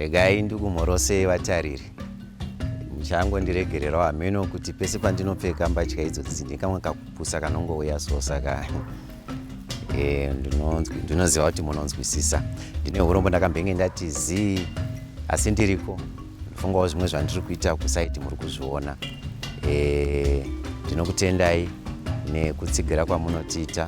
Regai ndikumhorosei vatariri. Muchangondiregererawo hameno kuti pese pandinopfeka mbatya idzodzi ndikamwe kakupusa kanongouya so saka eh, ndinoziva kuti munonzwisisa. Ndine hurombo ndakambenge ndati zii asi ndiriko fungawo zvimwe zvandiri kuita kusaiti muri kuzviona eh, ndinokutendai nekutsigira kwamunotiita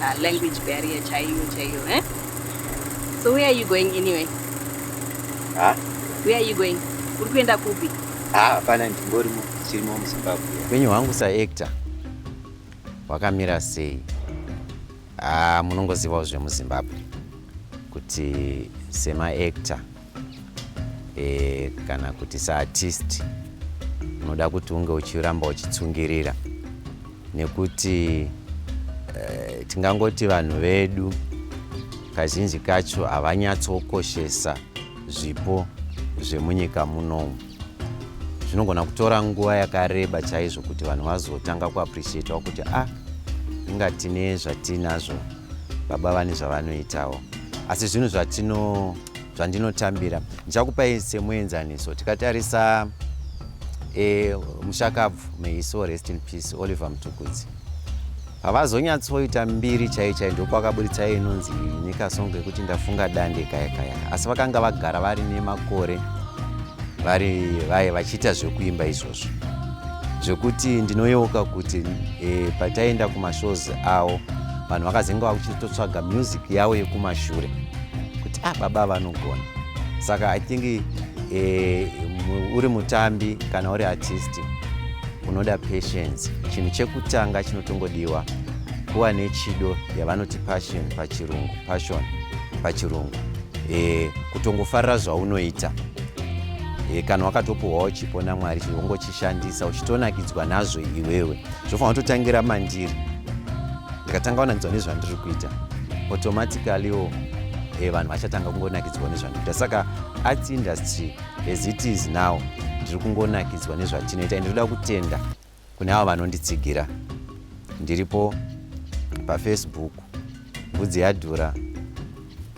uh, language barrier chaiyo chaiyo eh? so where are you going anyway huh? where are you going uri kuenda kupi hapana ndingorimo chirimo muzimbabwe upenyu hwangu saactor hwakamira sei ah, munongozivawo zvemuzimbabwe kuti semaactor e, kana kuti saartist unoda kuti unge uchiramba uchitsungirira nekuti e, tingangoti vanhu vedu kazhinji kacho havanyatsokoshesa zvipo zvemunyika munomu zvinogona kutora nguva yakareba chaizvo kuti vanhu vazotanga kuappreciatawo kuti a ah, inga tine zvatiinazvo baba vane zvavanoitawo asi zvinhu zvatino zvandinotambira ndichakupai semuenzaniso tikatarisa e, mushakabvu meiso rest in peace oliver mutukudzi Havazonyatsoita mbiri chai chai ndopakaburitsa inonzi nyika songo yekuti ndafunga dande kaya kaya asi vakanga vagara vari nemakore vari vaye vachiita zvekuimba izvozvo zvekuti ndinoyeuka kuti e, pataienda kumashows awo vanhu vakazenge vakuchitotsvaga music yavo yekumashure kuti ah baba vanogona saka i think e, uri mutambi kana uri artisti unoda patience Chinhu chekutanga chinotongodiwa kuva nechido yavanoti passion pachirungu passion pachirungu e, kutongofarira zvaunoita e, kana wakatopuhwawo chipo namwari chivongochishandisa uchitonakidzwa nazvo iwewe zvofanira kutotangira mandiri ndikatanga wanakidzwa nezvandiri kuita automaticallywo e, vanhu vachatanga kungonakidzwa nezvandiri kuita saka arts industry as it is now ndiri kungonakidzwa nezvatinoita ndinoda kutenda Kune avo vanonditsigira ndiripo pafacebook mbudzi yadhura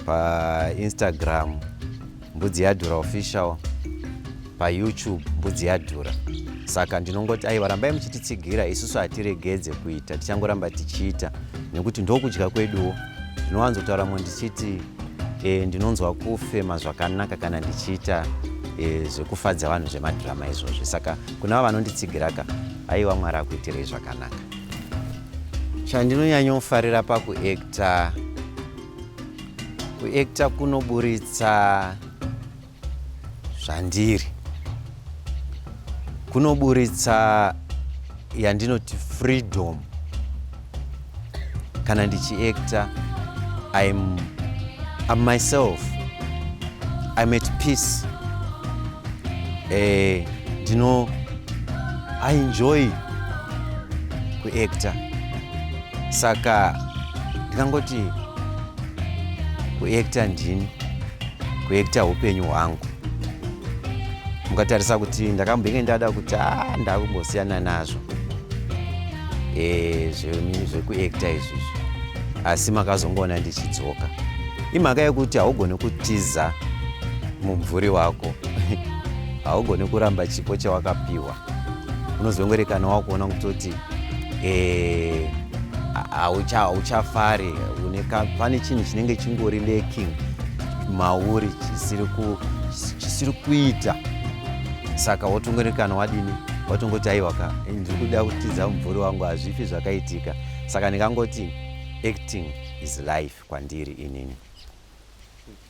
painstagram mbudzi yadhura official payoutube mbudzi yadhura saka ndinongoti aiwa rambai muchititsigira isusu hatiregedze kuita tichangoramba tichiita nekuti ndokudya kweduwo ndinowanzotaura mwe ndichiti e, ndinonzwa kufema zvakanaka kana ndichiita e, zvekufadza vanhu zvemadhirama izvozvi saka Kuna vanonditsigira ka aiwa Mwari akuitirei zvakanaka. Chandinonyanyofarira pakuekta kuekta kunoburitsa zvandiri kunoburitsa yandinoti freedom kana ndichiactor I'm, I'm myself I'm at peace eh, ndino I enjoy kuactor saka ndingangoti kuactor ndini kuactor hupenyu hwangu mukatarisa kuti ndakambenge ndada kuti a ah, ndakumbosiyana nazvo zvenini zvekuekta izvizvi asi makazongoona ndichidzoka imhaka yekuti haugone kutiza mumvuri wako haugone kuramba chipo chawakapiwa unozongorekana wakuona kutoti eh, hauchafari pane chinhu chinenge chingori laking mauri chisiri kuita saka wotongorekana wadini watongoti aiwa ka ndiri kuda kutiza mumvuri wangu hazvifi zvakaitika saka ndikangoti acting is life kwandiri inini